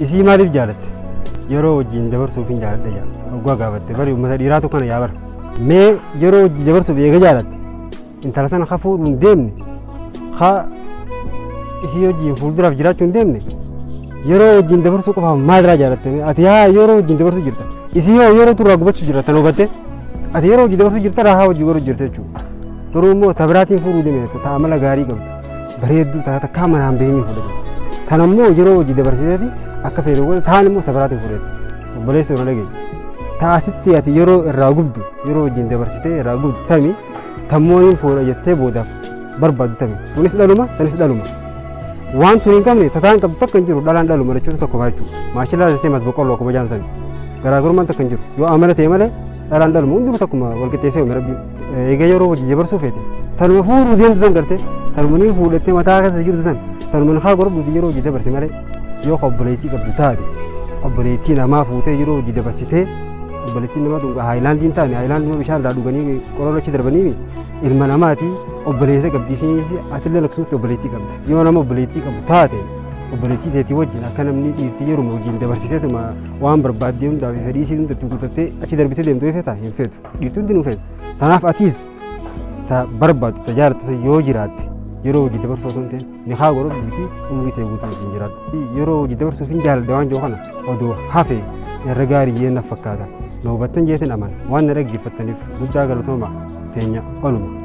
Isii maaliif jaalatte? Yeroo wajjin dabarsuuf hin jaaladha jaa. Oggaa gaafatte bari uummata dhiiraatu kana yaa bara. Mee yeroo wajjin dabarsuuf eega jaalatte intala sana ka fuudhu hin deemne ka isii wajjin fuulduraaf jiraachuu hin deemne yeroo wajjin dabarsuu qofaaf maalirraa jaalatte mee? ati haa yeroo wajjin dabarsuu jirta isii hoo yeroo turraa gubachuu jirta tan hubatte ati yeroo wajjin dabarsuu jirta haa wajjin godhu jirta jechuudha. Garuu immoo tabiraatiin fuudhuu deemne ta'a mala gaarii qabdu. bareedduu taata takkaa manaan beenyee fuudhe ture. Tan ammoo yeroo hojii dabarsiteeti akka feetu godhe taan immoo tabaraatiin fuudhetti. Obboleessi irra dhageenya. Taasitti ati yeroo irraa gubdu yeroo wajjin dabarsitee irraa gubdu tami tammooniin fuudha jettee boodaaf barbaaddu tami. Kunis dhaluma sanis dhaluma. Waan tuni hin qabne tataan qabdu takka hin jiru dhalaan dhaluma jechuutu tokko maa jechuudha. Maashillaa jettee mas boqqolloo akkuma jaan sani. Garaagarummaan takka hin jiru. Yoo amala ta'e malee dhalaan dhaluma hundinuu takkuma walqixxeessee uume rabbiin. Egaa yeroo hojii jabarsuu feete tanuma fuudhuu deemtu san garte tanuma ni fuudhattee mataa keessa jirtu san sanuma haa godhadhuuti yeroo hojii dabarse malee yoo ka obboleettii qabdu taate obboleettii namaa fuutee yeroo hojii dabarsitee obboleettiin namaa tun haayilaandii hin taane haayilaandii bishaan irraa dhuganii qorora achi darbanii ilma namaati obboleessa qabdi isinis atillee akkasumatti obboleettii qabda yoo nama obboleettii qabu taate obboleettii teetii wajjin akka namni dhiirti yeruma wajjin dabarsiteetuma waan barbaadde hundaaf fedhii isii hundatti guutattee achi darbitee deemtu hin feetu. Dhiirtuu hundi nuuf eegu. Kanaaf atiis ta barbaaddu ta jaalattu sun yoo jiraatte yeroo hojii dabarsuu osoo hin ta'in nikaa godhu bitii umurii ta'e guutuu wajjin jiraadhu. Yeroo hojii dabarsuuf hin jaaladha waan jiru kana odoo hafe irra gaarii jeen naf fakkaata. Na hubattan jeetin amana. Waan na dhaggeeffattaniif guddaa galatooma teenya oluma.